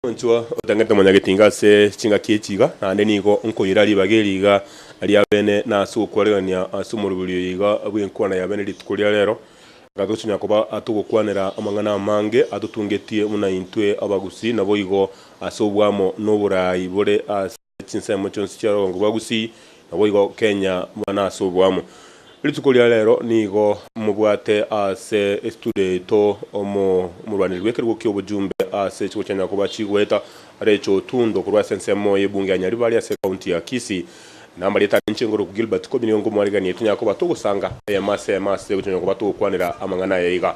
Omonchwa otang'ete omonyagetinga ase chingaki echi iga, naende nigo nkoira ribaga eri iga ri'abene na ase ogokwanegania ase omorobiri oyo iga bw'enkwana y'abene rituko ria reero, aka togochia koba atogokwanera amang'ana amange atotungetie buna intwe abagusii, naboigo ase obwamo na oboraai bore ase. Chinsemo chionsi chia Rogongo bwa Gusii naboigo Kenya bana ase oboamo. Rituko ria rero nigo mobwate ase estudio yaito omorwaneri bw'ekerogo ki'obojumbe ase echigo chia Nyakoba chigoeta Rachel Otundo korwa ase ensemo y'ebunge ya Nyaribari ase ekaunti ya Kisii. Namarieta ane inche ngoroku Gilbert Kobini onga omwarigani yaito Nyakoba togosanga eyemo ase eyemo ase gocha Nyakoba togokwanera amang'ana aya iga.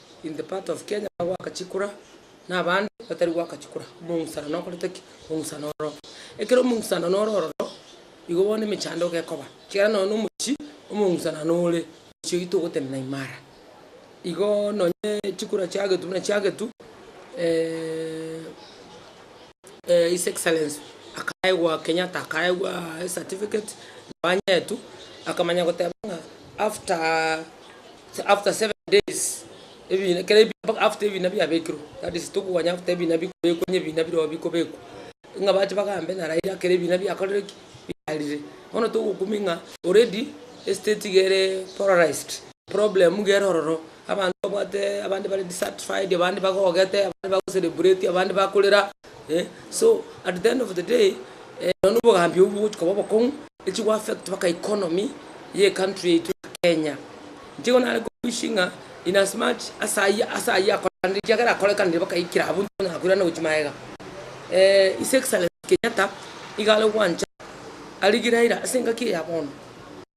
in the part of Kenya bagoaka chikura na abande batari goaka chikura omong'usano nokorete ki? Omong'usano ore ororo. Ekero omong'usano nore ororo, igo bono emechando iga ekoba, ekiagera nonya na omochie omong'usana nore, omochie oito ogotenena imara. Igoo nonye chikura chiagetwa buna chiagetwa his excellency akaegwa Kenyatta akaegwaa ecertificate nabo anyetwe, akamanya goteba ng'a after. So after seven days, ebina kera ebi after ebina biabekirwe, that is tokokonya after ebina bikobekwa onye ebina birobio bikobekwa, ng'a bache bagambe na Raila kera ebina biakorire ki? Biarire. Bono togokumia ng'a already estate iga ere polarized, problem iga ere ororo, abanto babwate abande bare dissatisfied, abande bagogete, abande bagocelebreti, abande bakorera eh, so at the end of the day, eh, nonya na obogambi obwo bogochi koba obokong'u. Echi go affect mpaka economy ye country yaito ya Kenya. Inchego nare ko wishing ng'a in as much ase ayio ase ayio akoranire ekiagera akorekanire mpaka aikire abwo intwe tonyara koirana gochia magega. His Excellency Kenyatta iga are gwancha arigie Raila ase engaki eye ya bono.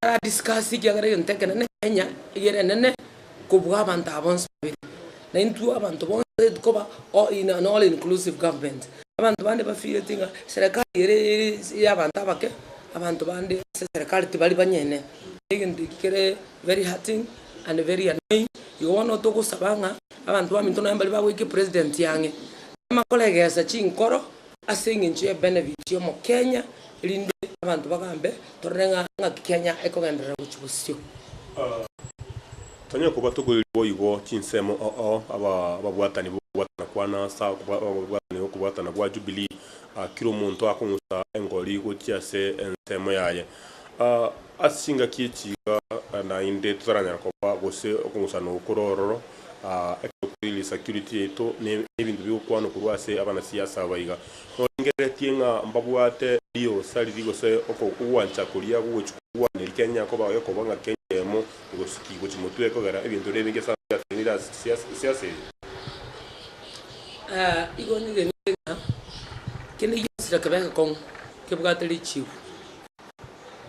Ara discuss ekiagera egento ekenene Kenya igere enene. kobua abanto aba bonsi babere, na intwe abanto bonsi tikoba all in an all inclusive government. Abanto bande bafiireti ng'a serekari ere ere y'abanto abake, abanto bande ase serekari tibari banyene. Egento eki kere very hurting and very annoying, igo bono togosaba ng'a abanto baminto nonye mbaria bagwekia epresident ang'e, tibamakoregesa chinkoro Ase eng'encho ye benefit y'omo Kenya erinde abanto bagambe torore ng'a ng'aki Kenya ekogenderera gochia bosio. Tonyare koba tokoirwe boigo chinsemo oo aba ababwatani b'okobwatana kwane ase ababwatani b'okobwatana gwa Jubilee, kera omonto akong'usa engori gochia ase ensemo yaye. Ase chingaki echi iga naende totaranyara koba gose okong'usana okwo korwa ororo. Ekegokweriria security yaito ne ebinto bigokwanwa korwa ase abanasiasa aba iga. Norengereretie ng'a mbabwate riosa riria gose okogwancha koria gogochia kogwaneri Kenya koba gekoba ng'a Kenya eyemo egosiki gochia motwe kogera ebinto biria ebinge sana biatenenire ase siasa eye. Igo nigenete ng'a kende gionsi rekebe egekong'u kebwate richigu.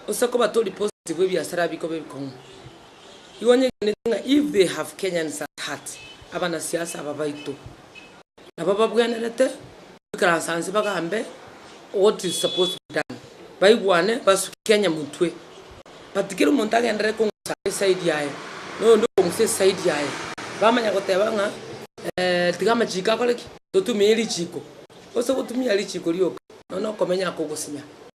Gose koba tori positive ebiasara bikobe ebikong'u. Igo onyegeneti ng'a if they have Kenyans at heart, abanasiasa aba baito nabo babwenerete goikaransa inse bagambe what is supposed to be done, baigwane basuke Kenya motwe. But kera omonto agenderere kong'usa eside yaye na oyonde okong'usa eside yaye, bamanya goteba ng'a eeh tiga amachiko akore ki? Totumie richiko. Ase gotumia richiko rioka, nonya na okomenya oko ogosinya.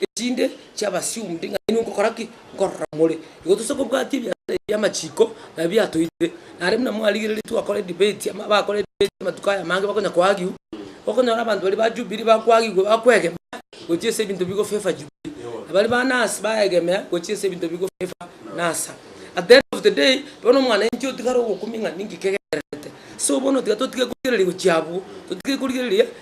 echinde chi'abasio onde ng'a inwe ngokora ki? Nkorora more. Igo tosa kobwatia ebiasara ebi bi'amachiko nabio biatoitire. Nare buna mwarigereretie gokora edebate, ama bakore edebate amatuko aya amange bakonya koagiwa, okonyora abanto baria ba Jubilee bakoagigwa bakoegena gochia ase ebinto bigo favour Jubilee, na baria ba Nasa baegemea gochia ase ebinto bigo favour Nasa. At the end of the day, bono omwanainchi otigare ogokumia ng'a ninki kegendererete. So bono tiga totige korigereria gochia abwo, totige korigereria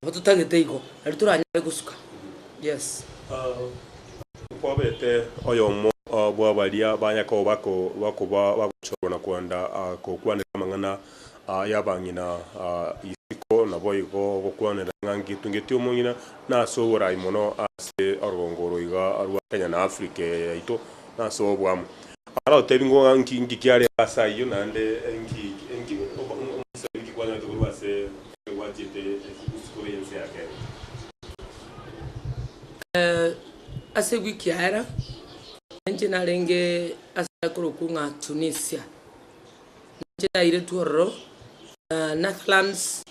Nabo totagete igo, nari toranyare gosuka. Yes. Kwabete oyomo bw'abaria ba Yakobo bakoba bagochorwa na kwenda gokwanera amang'ana y'abang'ina isiko, naboigo gokwanera ng'a ngetungeti omong'ina nase oboraai mono ase orogongo oro iga rwa Kenya na Africa eye yaito nase obwamo. Ara otebi ng'a nki kiarenge ase ayio, naende inki omoisraeli inki kwanyorete korwa ase Ase ewiki ya ere, nainche narenge ase korokwa ng'a Tunisia. Nainche nairetwe ororo na Nathlans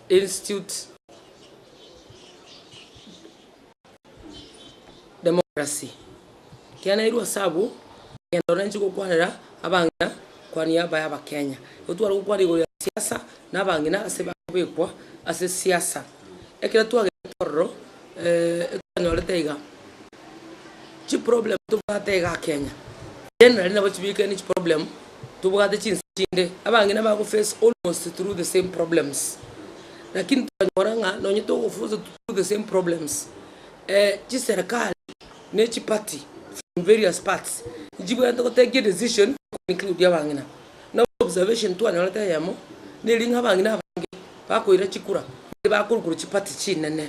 Institute. Democracy, kianairwe ase abwo egento nainche gokwanera abang'ina kwania abaye abakenya. Igo tware gokwana igoro ya siasa na abang'ina ase bakobekwa ase siasa. Ekero twagete ororo twanyorete iga, chiproblem tobwate igaa kenya, generally nabo chibikire ne chiproblem. tobwate chinsa chinde, abang'ina bago face almost through the same problems, lakini twanyora ng'a nonye togofunsa through the same problems, chiserikali ne chiparty from various parts nchibwenerete gotekia edecision to include abang'ina. Nabo observation twanyorete eyemo, neri ng'a abang'ina abange bakoira chikura, nigo bakorwa korwa chiparty chinene.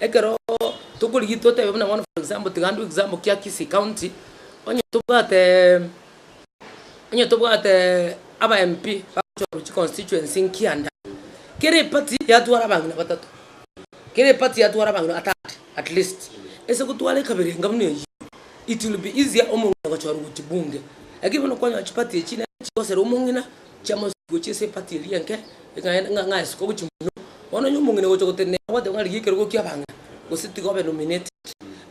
Ekero tokorigia totebe buna bono for example tiga ndue example kia Kisii county, onye tobwatee onye tobwatee aba MP bagochorwa chiconstituency nkia ande, kera eparty yatwara abang'ina batato, kera eparty yatwara abang'ina batano at least, ase gotwara ekabere enga buna eyio, it will be easier omong'ina gochorwa gochia bunge. Lakini bono kwanyora chiparty echi nero chigosera omong'ina. Chiamo gochia ase epati eria enke, ekagenda ng'a ng'aesoka gochia mono. Bono onye omong'ina agocha gotenena ere agoteeba ng'a rigia ekerogo kia abang'ina, gose tiga obe nominated.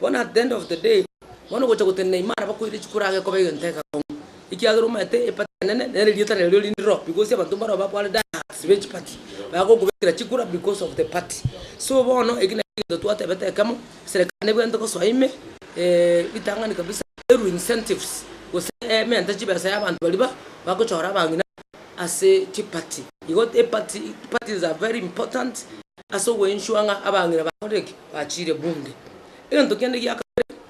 Bono at the end of the day, bono ogocha gotenena ime ara bakoire chikura iga ekoba egento egekong'u, ekiagera omanyete epati enene nere erieta nario riri ndiro, because abanto mbarabwo bakware diehards be chipati, bagokobekera chikura because of the party. So bono eki nakio egento twatebete ekemo. Eserekari nebwenerete gosoa ime ritang'ani kabisa erue incentives gose emente chibesa y'abanto baria ba bagochora abang'ina ase chiparty. Igo eparty parties are very important ase ogo ensure ng'a abang'ina bakorire ki? Bachiire bunge. Egento kende gia kabere,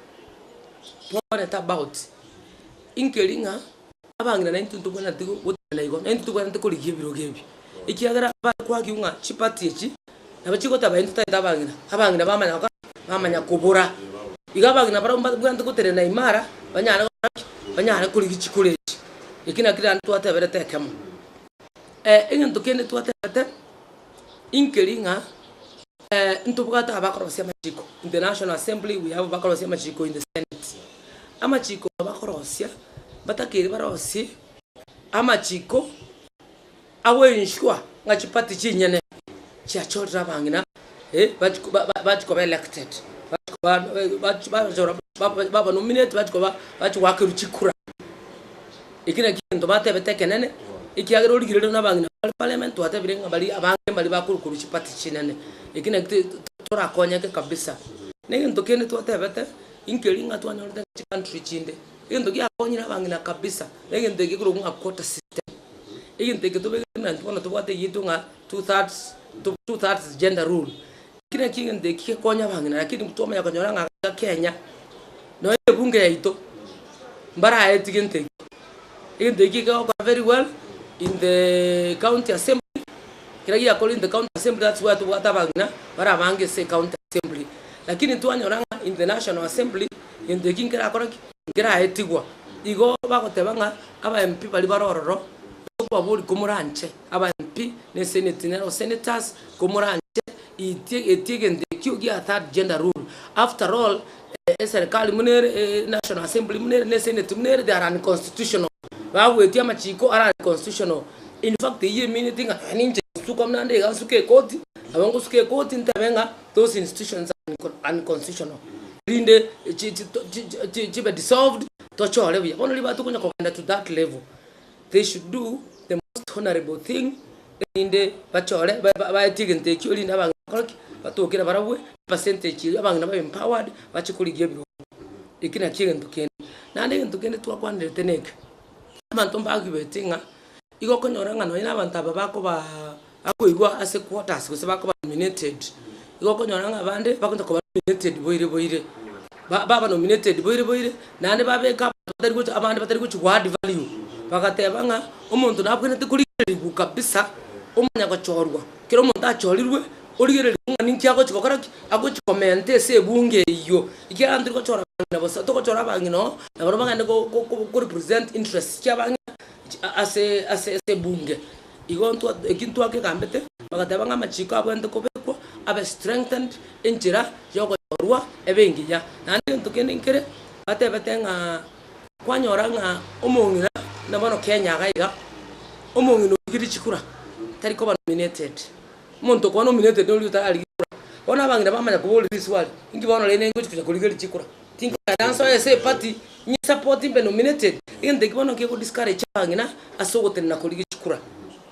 twakorente about inkeri ng'a. abang'ina naintwe ntobwenereti go gotenena igo, naintwe tobwenereti korigia ebirogo ebi, ekiagera bare kwaki ng'a chiparty echi nabo chigoteba intwe tari abang'ina, abang'ina bamanya gokoa ki? Bamanya kobora. Iga abang'ina barabwo mbabwenerete gotenena imara, banyare gokora ki? Banyare korigia chikoro echi. Eki nakio rende twateberete ekemo. Egento kende twateberete, inkeri ng'a. Ntobwate abakorosia amachiko in the National Assembly, we have abakorosia amachiko in the Senate. Amachiko abakorosia batakeire barosie amachiko agoensure ng'a chiparty chinyene chiachorire abang'ina bati bati koba elected, bati koba bachora baba nominated bati koba bati goakerwa chikura. Ekina kiagento batebete ekenene, ekiagera origererio nabang'ina bare parliament twatebire ng'a baria abange mbaria bakor korwa chiparty chinene. Eki naki te torakonyeke kabisa. Negento kende twatebete, inkeri ng'a twanyorete ng'a chicountry chinde, egento giakonyire abang'ina kabisa, negento eke ekorokwa ng'a quota system. Egento eke tobegete ng'a intwe bono tobwate eyietwe ng'a two thirds two thirds gender rule. Naki naki egento eki gekonya abang'ina, rakini twamanya konyora ng'a iga Kenya, nonya ebunge yaito, mbaraeti gento eke. Egento eki kegokora very well in the county assembly, kero giakorire in the county assembly that's why tobwate abang'ina bara abange ase ecounty assembly. Rakini twanyora ng'a in the national assembly, gento eki nkerakora ki? Nkeraetigwa. Igo bagoteba ng'a aba MP baria bare ororo, tokobaboria komoranche. Abampi ne Senate nero Senators komoranche itie etie egento ekio gia third gender rule after all eserikali buna ere National Assembly buna ere ne Senate buna ere they are unconstitutional bagoetia amachiko are unconstitutional in fact eyio emineti ng'a nonye ninche gosuka buna ande iga nsuke ekoti nabo ngosuka ekoti ntebe ng'a those institutions are unconstitutional erinde chibe dissolved tochore buya bono ribaga tokonya kogenda to that level. they should do the most honourable thing, erinde bachore baetie egento ekio erinde abang'ina bakore ki? Batokere barabwo epercentage eyio abang'ina babe empowered bache korigia ebirogo. Eki nakio egento kende. Naende egento kende twakwanderete nekio, abanto mbagigweti ng'a igo okonyora ng'a nonye na abanto aba bakobaa. Akoigwa ase quarters gose bakoba nominated, igo okonyora ng'a abande bagocha koba nominated boire boire, ba baba nominated boire boire, naende babeka abanto batari gocha abande batari gochi go add value, bagateba ng'a omonto nabwenerete korigererigwa kabisa, omanya gochorwa, kera omonto achorirwe, origererigwe ng'a ninki agochi gokora ki, agochi komenta ase ebunge eywo, ekiagera tori gochora abang'ina bosa, togochora abang'ina oo nabarabwo bagende go go korepresent interests chia abang'ina ase ase ase ebunge. Igo ntwa eki ntwakegambete, bagateba ng'a amachiko abwenerete kobekwa abe strengthened enchera y'ogochorwa ebenginya. Naende egento kende nkere batebete ng'a kwanyora ng'a omong'ina na bono Kenya iga iga, omong'ina origete chikura tari koba nominated. Omonto okwana nominated noria otararigia kura. Bono abang'ina bamanya koborera eswali, inki bono rende ningochi konya korigeria chikura? Tinkogenda ase oye ase epati, inye support mbe nominated, egento eki bono nkego discourage abang'ina ase ogotenena koria gechikura.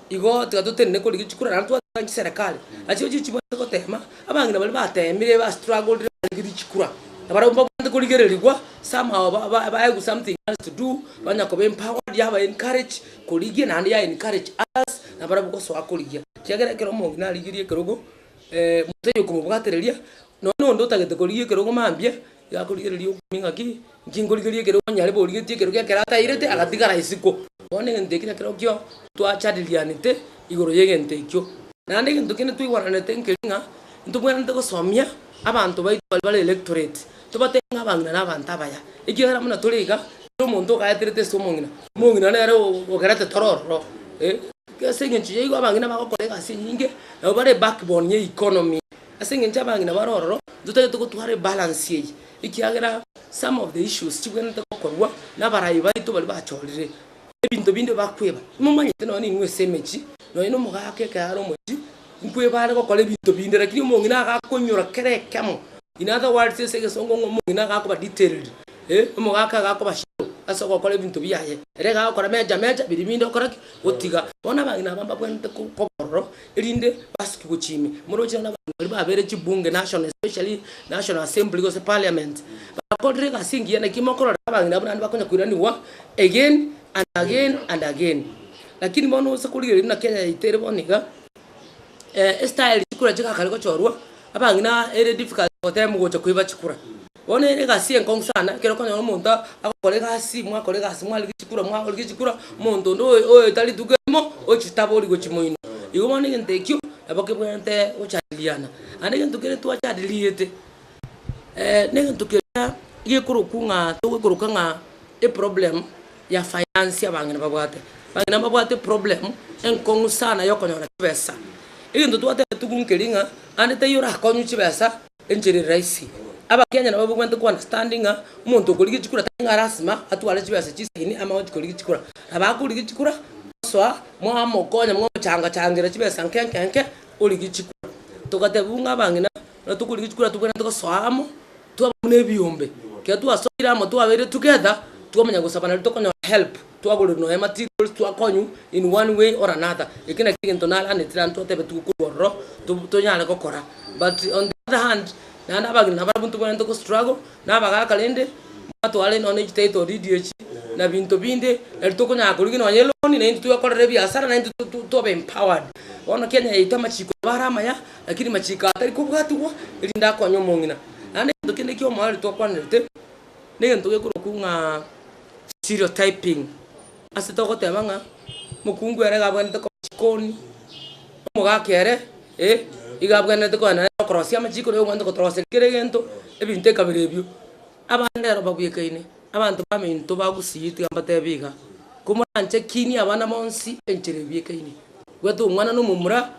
Igo tiga totenene koria gechikura naende twateba chiserekari, nachigo chiri chibwate gotema, abang'ina baria batemire ba struggled barenge richikura, nabarabwo mbabwate korigererigwa somehow ba ba baegwe something else to do, banya koba empowered yaba encourage korigia naende ya encourage others nabarabwo gosoa korigia. Ekiagera ekero omong'ina arigirie ekerogo, motari okomobwatereria, Nonya nonde otagete korigia ekero ogo mambia, iga akorigereria okumia ng'a ki, inki nkorigeria ekero onya nyarebe origetie ekero giakere atairete agatigara isiko. Bono egento ekio nekerokio twajadilianete igoro y'egento ekio. Naende egento kende twaigweranete nkeri ng'a, ntobwenerete gosomia abanto baito baria bare electorate, tobatebia ng'a abang'ina nabanto abaya, ekiagera buna tore iga, kera omonto ogaeterete ase omong'ina, omong'ina nere ogerete toro ororo eh. Ase eng'encho yaigo abang'ina bagokora egasi enyinge, nabo bare backbone ya economy. Ase engencho abang'ina bare ororo, ntotagete gotwara ebalance eye, ekiagera some of the issues chibwenerete gokorwa nabarayi baito baria bachorire ebinto binde bakweba. Nimomanyete nonye ning'o ase emechie, nonye na omogaka ekero are omochie, nkweba are gokora ebinto binde, rakini omong'ina agakoinyora kera ekemo, in other words ase egesongo ng'a omong'ina agakoba detailed, eh, omogaka agakoba shallow ase ogokora ebinto biaye. Ere egagokora meja meja biria binde okora ki? Otiga. Bono abang'ina aba mbabwenerete ko koba ororo. erinde basukigwe chimi, morochire na abanto baria babeire chibunge, national especially national assembly gose parliament, bakorire egasi engiya naki mokorora abageni abwo naende bakonya koiranigwa again and again and again. Lakini bono gose korigereria buna Kenya yaito ere bono iga, e- estaeri chikura chiga kare gochorwa. Abang'ina ere difficult goteba mogocha koiba chikura. Bono ere egasi enkong'u sana, ekero okonyora omonto agokora egasi, mwakora egasi mwarige chikura mwarigia chikura, omonto onde oyo oyo tari rituko erimo ochitabori gochimoinwa. Igo bono egento ekio nabo kebwenerete gochandiriana. Naende egento kere twachandiriete, na egento keria gekorokwa ng'a togoikoroka ng'a eproblem. ya sayansi abang'ina babwate. Abang'ina mbabwate eproblem enkong'u sana ya okonyora chibesa. Egento twateba tuku nkeri ng'a aande taiyo orakonywe chibesa enchera ere rahisi. Abakenya nabo babwenerete ko understand ng'a omonto okorigia chikura tari ng'a lasima atware chibesa chisegini amo agochia korigia chikura. Nabo akorigia chikura mosoa mwamokonya mwamochango changera chibesa nke nke nke origie chikura. Togateba buna ng'a abang'ina ekero tokorigia chikura tobwenerete gosoa amo. twaba buna ebiombe, ekero twasoire amo twabeire together, twamanya gosaba nario tokonyora help, twagorerwa nonya materials, twakonywa in one way or another, ekio nakio egento naraneti naende twateba tigokorwa ororo tob tonyare gokora, but on the other hand, naende abageni nabo abwo ntobwenerete go struggle na abagaka rende, mwatwara nonya ne chititle deed echi, na binto binde, nari tokonyara korigia nonya eloan, naintwe twekorera ebiasara, naintwe to to tobe empowered. Bono Kenya yaito amachiko nabo are amaya. Lakini machiiko aya tari kobwatigwa, erinde akonye omong'ina. Naende egento kende ekiya omorwari twakwanerete, negento gekorokwa ng'a stereotyping. Ase togoteba ng'a mokungu ere iga abwenerete koba chikoni, omogaka ere eh, iga abwenerete koenda nere okorosia amachiiko, nere obwenerete kotoroseria kera egento, ebinto ekabere ebio. Abande ero babwekaine, abanto baminto bagusiyitwe mbatebi iga, Komoranchekinie abana bonsi enchera ebwekaine, bwata omwana na omomura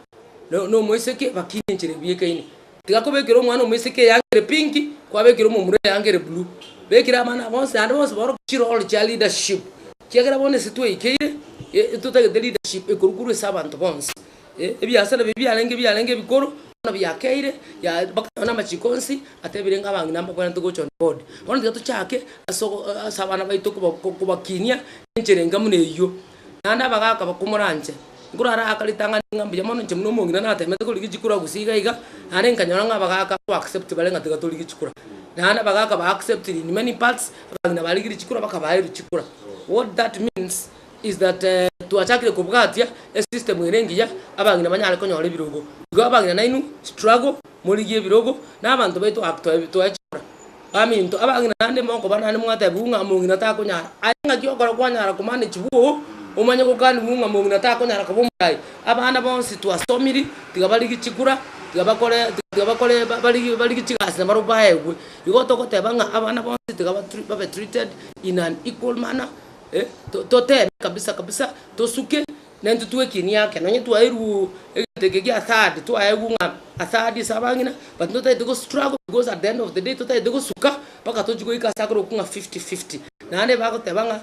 na omoiseke bakinie enchera ebwekaine. Tiga kobekera omwana omoiseke eyanga ere pinki, kwabekera omomura eyanga ere blue. Bekera abana aba bonsi naende bonsi baoroke chiroli chia leadership, kiagera bono ase tweikeire, totagete leadership ekorukorwa ase abanto bonsi. Ebiasa nabio biarenge biarenge ebikoro, bono biakeire, yaya mpaka nonya na amachiko onsi atebire ng'a abang'ina mbakwenerete gocha on board. Bono tiga tochake ase ogo ase abana baito koba kobakinia enchera enga buna eyio, naende abagaka bakomoranche. Nkorara aka ritang'ani ng'a mbuya mono inche buna omong'ina nateemete korigia chikura gusii iga iga, naende nkanyora ng'a abagaka ko accept bare ng'a tiga torigie chikura. Naende abagaka ba acceptire in many parts, abang'ina barigirie chikura bakabaeru chikura. What that means, is that twachakire kobwatia esystem ere engiya abang'ina banyare konyora ebirogo. Igo abang'ina nainwe struggle morigie ebirogo na abanto baito ak toechora baminto abang'ina naende mokoba naende mwatebiwa ng'a mong'ina takonyara aye ng'aki okora kwanyara komanage bwo oo omanye gokaniwu ng'a mong'ina takonyara koba omoyai. Abana bonsi twasomiri tiga barigie chikura tiga bakore tiga bakore barigie barigie chigasi na barobwo baegwe. Igo togoteba ng'a abana bonsi tiga babe treated in an equal manner. Totebe kabisa kabisa tosuke nentutwe ekieni ake nonye twairwe egento eke gia third twaegwa ng'a a third ase abang'ina but ntotaete go struggle because at the end of the day totaete gosuka mpaka tochi goika ase akorokwa ng'a fifty fifty. Naende bagoteba ng'a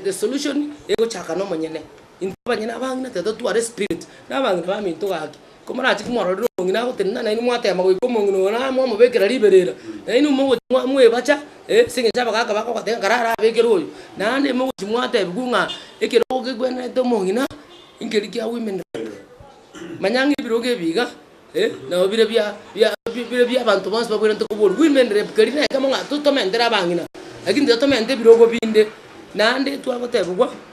the solution egochaka nomonyene intwe abanyene abang'ina tiga totware spirit na abang'ina baminto gaki. Komorachie komororera omong'ina agotenena, nainwe mwateema goika omong'ina oyo na mwamobekera riberera, nainwe mogochi mwa mwebacha, eh, ase eng'encho abagaka bakogoteba ng'a rara abekere oyo. Naende mogochi mwatebiwa ng'a ekerogo kekwenerete omong'ina nkeri kia women rep. Manya ng'a ebirogo ebi iga, eh, nabo bire bia bia bire bia abanto bonsi babwenerete koboria women rep keri nekemo ng'a totomentere abang'ina, lakini titotomenete ebirogo binde. Naende twagotebiwa.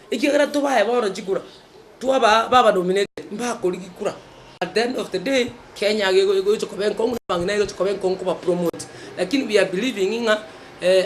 Ekiagera tobae bono chikura, twabaa baba nominated, mbakori gikura, at the end of the day Kenya iga igo igocha koba enkong'u na abang'ina iga igocha koba enkong'u koba promote. Lakini we are believing ng'a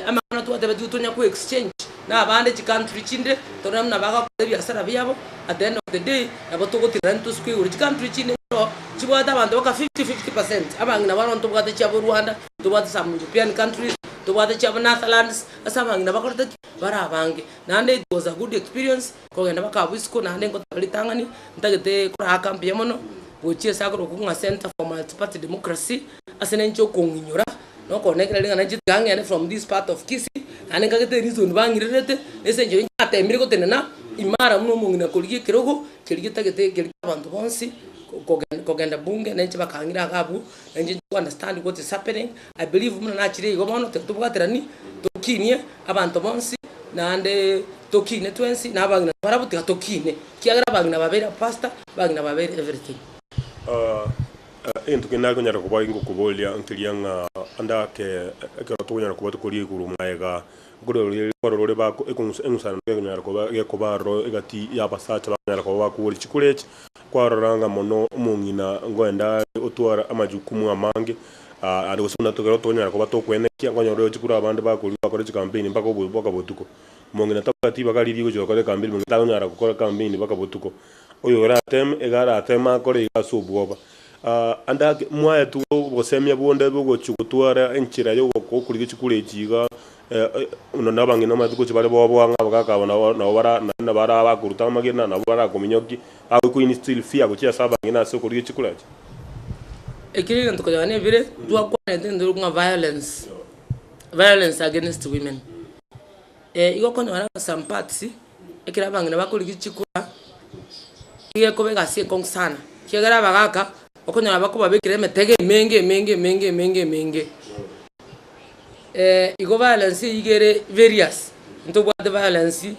amang'ana twatebetigwe tonya ko exchange na abande chi country chinde torore buna bagakora ebiasara biabo, at the end of the day nabo togotiga rende tosuke igoro. Chi country chinde nabo chibwate abanto baka fifty fifty percent, abang'ina bono ntobwate chiabo Rwanda, ntobwate some European countries, ntobwate chiabo Netherlands, ase abang'ina bakorete ki? Barabange. naende it was a good experience kogenda mpaka abwo isiko naende ngoteba ritang'ani ntagete koraka mbuya mono gochia ase akorokigwa ng'a Centre for Multiparty Democracy ase nainche okong'inyora na okonekera ring'ana ninche tiga ng'ende from this part of Kisii naende nkagete reason bang'irerete ase enchera ninche natebirie gotenena imara buna omong'ina korigia ekerogo keria getagete keria kia abanto bonsi kogenda kogenda bunge nainche bakang'ira iga abwo nainche ninche ko understand what is happening I believe buna nachire igo bono tiga tobwaterani tokinie abanto bonsi naende tokiine twensi na abagima barabwo tiga tokiine kiagera abagima babere a pastor abagima babere everything. Egento kende nare konyara koba ingokoboria nkeria ng'a ande ake ekero tokonyara koba tokoria igoro magega nkororire kwarorore bako ekong'usa eng'usanano gekonyara koba gekoba aroro egati y'abasacha bakonyara koba bakogora chikura echi kwarora ng'a mono omong'ina ngoende are otware amajukumu amange Aria gose buna ekero tonyara koba tokwenekia, nkonyora oyochia korwa abande bakorua bakore chikampeni mpaka obo mpaka botuko. Omong'ina tabwati ribaga riria rigochia gokora ekampeni, omong'ina tanyara gokora ekampeni mpaka botuko. Oyo orateme iga arateme akore iga ase obwoba. Ande ake mwaetwe obosemia bonde iga ogochia gotwara enchera ya ogokorigia chikura echi iga buna na abang'ina mbaetwe gochia bare boboa ng'a abagaka aba nabo nabo bara naende nabo ara abakoruta amagena nabo barakominyokia. Aye Queen Stilphia gochia ase abang'ina ase okorugia chikuracha. Ekero egento koyao nebire twakwanete egento ekero bokong'a violence, violence against women, eh igo okonyora ng'a some parts, ekero abang'ina bakorigia chikura, iga ekoba egasi ekong'u sana, ekiagera abagaka, okonyora bakobabekera emetego emenge emenge emenge emenge emenge, igo violence eywo iga ere various, ntobwate violence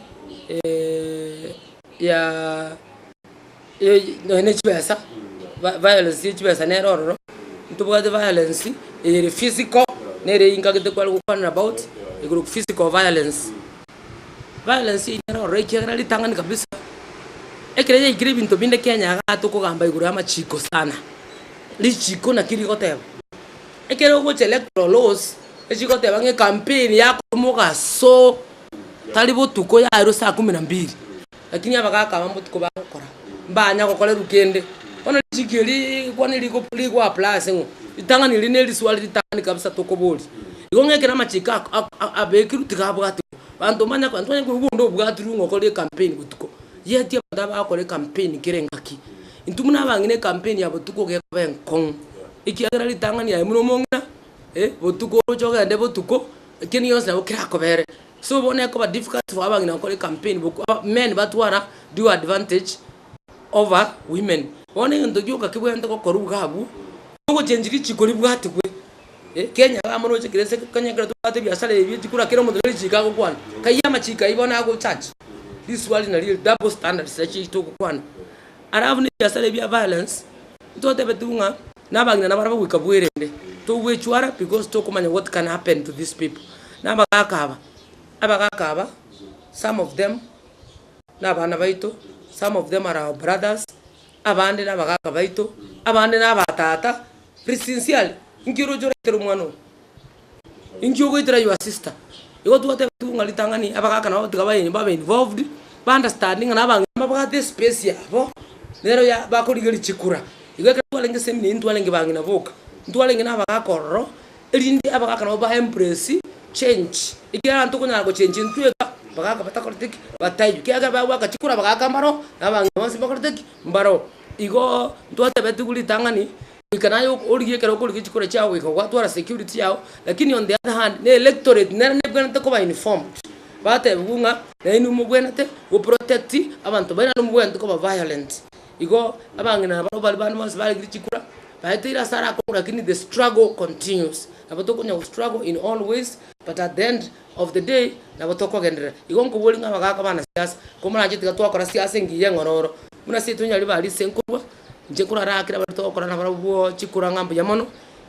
ya nonya ne chibesa, vi- violence ye chibesa nere ororo, ntobwate violence eyere physical, nere eyio nkagete kware gokwanera about, igoro physical violence. Violence eyio nere ororo ekiagera ritang'ani kabisa, ekero yaikire ebinto binde kenya igaa tokogamba igoro y'amachiko sana, richiko naki rigoteba. Ekero ogocha electoral laws, echigoteba ng'a ekampeni yakorwa mogaso, Tari botuko yairwe saa kumi na mbiri, lakini abagaka aba botuko bagokora, mbanya gokorerwa kende. Bono richiko erii rigokwana rigo rigoapply ase ng'o ritang'ani erio neriswari ritang'ani kabisa tokoboria. Igo ng'a ekero amachiko ako ak ak abekirwe tiga abwatwe abanto mbanya abanto banya koigwa onde obwatirwe ng'a okore ekampeni botuko, yeti abanto aba bagokora ekampeni kera engaki. Intwe buna abang'ina ekampeni ya botuko gekoba enkong'u, ekiagera ritang'ani yaye buna omong'ina. botuko oroche ogende botuko, ekiagera gionsi nabo kerakobere. So bono ekoba difficult for abang'ina gokora ecampaign boku aba men batwara due advantage over women. Bono egento gioka kebwenerete gokorwa iga abwo, nogochengi richiko ribwatigwe, kenya iga amo roche kera esege kenya ekero twabwate ebiasara ebi echiko ra kera omonto ne richiko agokwana, kaiya amachiko aywo bono agochachi, risuali nario eri double standards nachiaito ogokwana. Alafu ne ebiasara ebi bia violence, ntotebetiwu ng'a. Nabagina nabare bagoika bwerende togwechwara because tokomanya what can happen to these people nabagaka aba, abagaka aba some of them nabana baito, some of them are our brothers, abande nabagaka baito, abande nabatata, be sincerely, nki oroche oraetere omwana oyo? Inki ogoitera your sister? Igo twateba tu ng'a ritang'ani abagaka nabo tiga baye babe involved, ba understand ng'a na abang'ina mbabwate espace yabo, nero ya bakorigia richikura. Igo ekero twarenge seminary ntwarenge bang'ina boka, ntwarenge na abagaka ororo, erinde abagaka nabo ba embrace change, ekiagera ntokonyara gochenchia intwe iga abagaka batakoreti ki? Bataiyo. Ekiagera ekero bagwaka chikura abagaka mbaro, na abang'ina bonsi mbakorete ki? Mbaro. Igoo ntwateba tu ritang'ani Goika naye origie ekero okorigia chikura chiao goika gwatwara security yao, lakini on the other hand na electorate nero nebwenerete koba informed, batebigwe ng'a nainwe mobwenerete goprotect abanto baino nainwe mobwenerete koba violent. Igo abang'ina nabarobwo bare bande bonsi barigirie chikura, baeteire ase ara akorwa lakini the struggle continues, nabo tokonya gostruggle in all ways but at the end of the day nabo tokogenderera. Igo nkoboria ng'a abagaka banasiasa, komoranche tiga twakora siasa engiya eng'ororo. Buna seito nyari barise nkorwa, inche nkoro ara ekero abaruti bagokora nabarabwo bwo chikura ng'a mbuya mono,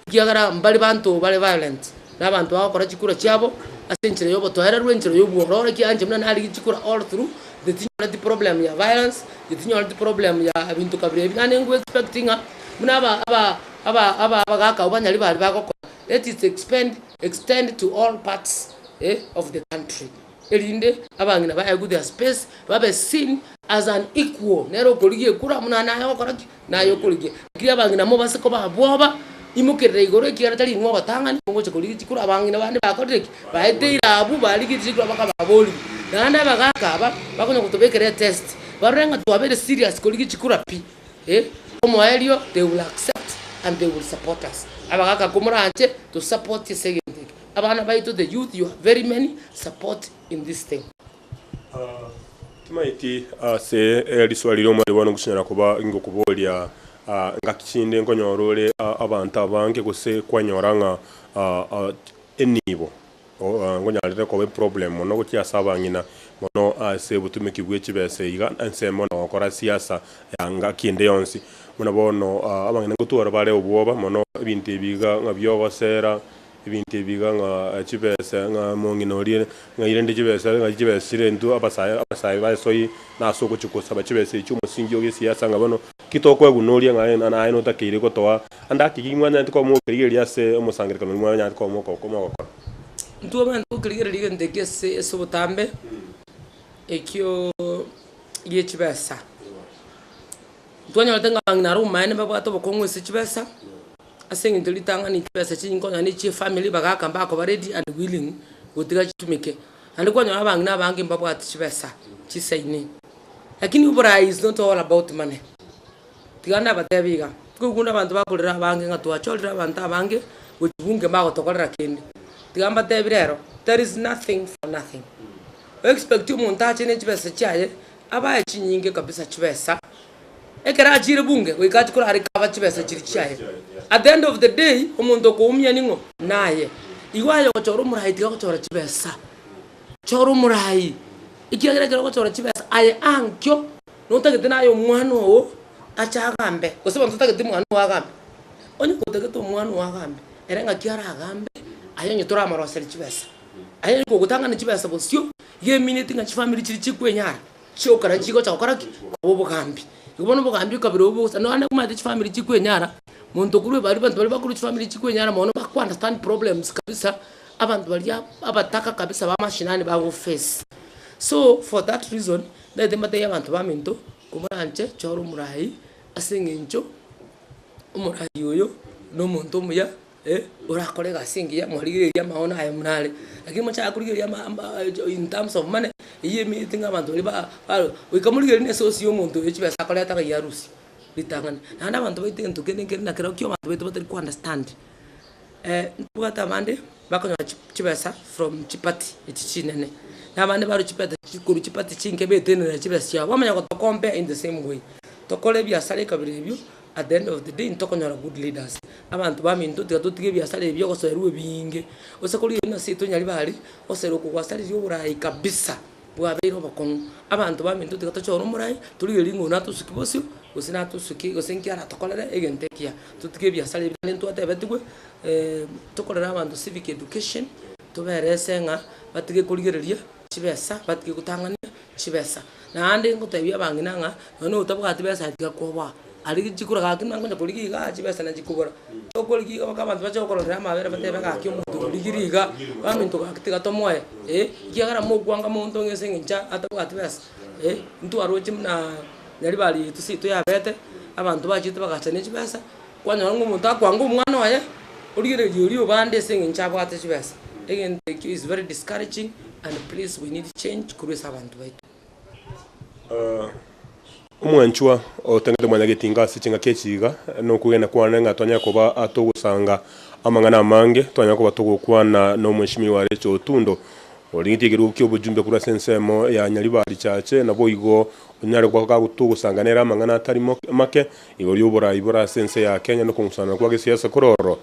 ekiagera mbare banto bare violent, na abanto bagokora chikura chiabo ase enchera y'obotoereru, enchera y'obwororo, ekiagera inche buna narenge chikura all through, inche tinyoreti problem ya violence, inche tinyoreti problem ya ebinto kabira ebi, naende nko expect ng'a buna aba aba aba aba abagaka abwo banyari bare bagokora, let it expend extend to all parts eh of the country. erinde abang'ina baye go their space, babe seen as an equal, nere okorigia ekura buna naye ogokora ki? Naye okorigia. Lakini abang'ina mobase koba abwo oba, imokerera igoro ekiagera tari inwe ogotang'ani, mogocha korigia chikura abang'ina bande bakorire ki? Baeteire abwo barigetie chikura baka baboriwu. Naende abagaka aba, bakonya gotobekera etest, barore ng'a twabere serious korigia chikura pi, eh, omoerio they will accept and they will support us. Abagaka komoranche, tosapotie ase egento eke. Abana baito the youth you are very many support in this thing. Timaeti ase eriswari ria omwari bono ngochinyara koba ngokoboria ngaki chinde nkonyora ore abanto abange gose kwanyora ng'a enibo nkonyarire koba eproblem mono gochia ase abang'ina mono ase obotumeki bwe chibesa iga ensemo na gokora siasa ya ngaki ende yonsi buna bono abang'ina ngotwara bare obwoba mono ebinto ebi iga ng'a biogosera Ebinto ebi iga ng'a chibesa, ng'a omong'ina oria ng'aire inde chibesa, ng'a chibesa chirentwe abasae, abasae ba esoi, na ase ogochia kosaba chibesa echio omosingi o gesiasa, ng'a bono ki tokweguna oria ng'a aye naye notakeire gotoa ande haki, ki mwanyaanete komokerigereria ase omosangererekano oria mwanyaanete komoko komogokora. Intwe abanto gokerigereria egento eke ase ase obotambe, ekioo gie chibesa, twanyorete ng'a abang'ina are omomaene mbabwate obokong'u ase chibesa, ase eng'encho ritang'ani chibesa chinyinge konya na echie efamiri bagaka mbakoba ready and willing gotiga chitumeke. Naende kwanyora abang'ina abange mbabwati chibesa chisaine. Lakini oboraai is not all about money, tiga nabatebi iga, tikoigwa buna abanto bakorera abange ng'a twachorire abanto abange gochia bunge mbagotokorera kende. Tiga mbatebi rero, there is nothing for nothing. O expect omonto ache nechibesa chiaye, abae chinyinge kabisa chibesa, Ekero achiire bunge goika ati korare kaba chibesa chiria chiaye. At the end of the day omonto okoumia ning'o? Naye. Igo aye ogochora omorai tiga gochora chibesa. Chora omorai. Ekiagera ekero ogochora chibesa aye ankio notagete naye omwana oo ache agambe. Gose abanto totageti mwana oo agambe. Onye gotagete omwana oo agambe ere ng'aki aragambe aye onye toramoroseri chibesa. Aye onya kogotang'ani chibesa bosio igo emineti ng'a chifamiri chiria chikwenyara. chiokera chigocha gokora ki? Koba obogambi. Igo bono obogambi okabere obo bosa, nonya onde komanyete chifamiri chikwenyara, monto okorwa ebari abanto baria bakorwa chifamiri chikwenyara mono bago understand problems kabisa, abanto baria abataka kabisa ba mashinani bago face. So for that reason, naete mbatebi abanto baminto, komoranche chora omorai aseng'encho omorai oyo nomonto omuya. ee, orakore egasi engiya mwarigereria amaono aye buna are, lakini mochaka korigereria ama ama in terms of money, eywo emegete ng'a abanto baria ba barwe, goika morigereria na esosi ya omonto oyo chibesa akoreta ng'a ya arusi, ritang'ani. Naende abanto baito egento kende nkere na kera kio abanto baito batari ko understand, ntobwate abande bakonyora chi chibesa from chiparty echi chinene, na abande barwe chipete chi korwa chiparty chinke baetenenera chibesa chiabo, bamanya gotokompea in the same way, tokore ebiasara ekabere ebio. At the end of the day ntokonyora good leaders, abanto baminto tiga totige ebiasara ebi ogosoerwa ebinge, gose korigia buna seito nyari bare, ogosoerwa okwo gwasareria oboraai kabisa, bwabeire obokong'u. Abanto baminto tiga tochore omorai, torigerie ng'a oyo natosuki bosio, gose natosuki gose nki aratokorere egento ekiya, totige ebiasara ebi naende ntwatebetigwe tokorere abanto civic education, toberese ng'a batige korigereria chibesa, batige gotang'ania chibesa. Naende ngoteebia abang'ina ng'a nonye notabwati besa tiga kobaa, aria chikura gaki buna nkonya korigia igaa chibesa nachikobora. Tokorigia iga mpaka abanto bache gokororera amabera batebe gaki omonto oyo origirie igaa, abanto gaki tiga tomoe eh, ekiagera mokwanga monto ng'a ase eng'encho atabwati besa eh, ntwaroche bunaa nyaribari yaito seito yabete, abanto bachete bagachania chibesa. Kwanyora ng'a omonto akwanga omwana oye, origereria oria obande ase eng'encho abwate chibesa, egento ekio is very discouraging and please we need change korwa ase abanto baito. Omwanchwa otangete omwana getinga ase chingaki echi iga, nokogenda kwane ng'a twanyare koba togosanga amang'ana amange, twanyare koba togokwana na Omweshimiwa oyo are Chotundo, oria getigeirwe gokia obojumbe korwa ase ensemo ya Nyaribari Church, naboigo onyare goka togosanga nere amang'ana atari make, Igoro y'oboraai bore ase ense ya Kenya na okong'usanana kwa gesiasa kore ororo,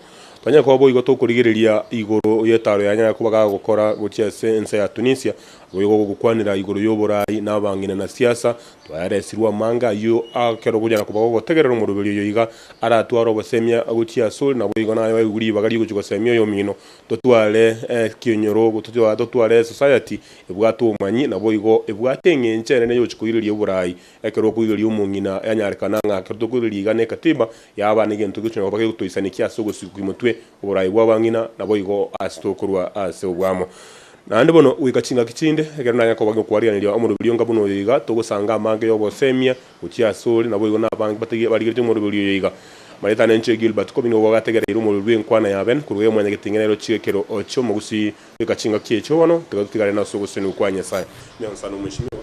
tonyare koba boigo tokorigereria igoro y'etaaro yanyare koba ga gokora gochia ase ense ya Tunisia, aboigo gogokwanera igoro y'oboraai na abang'ina na siasa, twaeresirwe amanga ayio ekero gonyara koba gogotegerera omoroberi oyo iga aratware obosemia gochia ase ore naboigo naye oigwe ribaga rigochia gosemia oyomino, totware ekenyoro, totware esociety ebwate obomanyi naboigo ebwate eng'encho enene yogochia koireria oboraai Ekero okoireria omong'ina, yanyarekana ng'a ekero tokoireria iga n'Ekatiba yaaba negento egochia na koba gegotoisanekia ase ogosigwa kw'omotwe oboraai bw'abang'ina, naboigo ase tokorwa ase obwamo. Naende bono, goika chingaki chinde, ekero nanye koba ngokwarigereria omoroberio onga buna oyo iga, togosanga amange y'ogosemia gochia ase ore, naboigo nabange batari barigeretie omoroberio oyo iga. Marieta na enchera Gilbert Kobini obo bagategereire omorori bw'enkwana ya Ben korwa eye omwanyagetengenerochio ekero chi'omogusii, Beka chingaki echo bono, tiga totigarane ase ogosesenigwa kwa Nyasae. Nyasae nomoichi, nigo.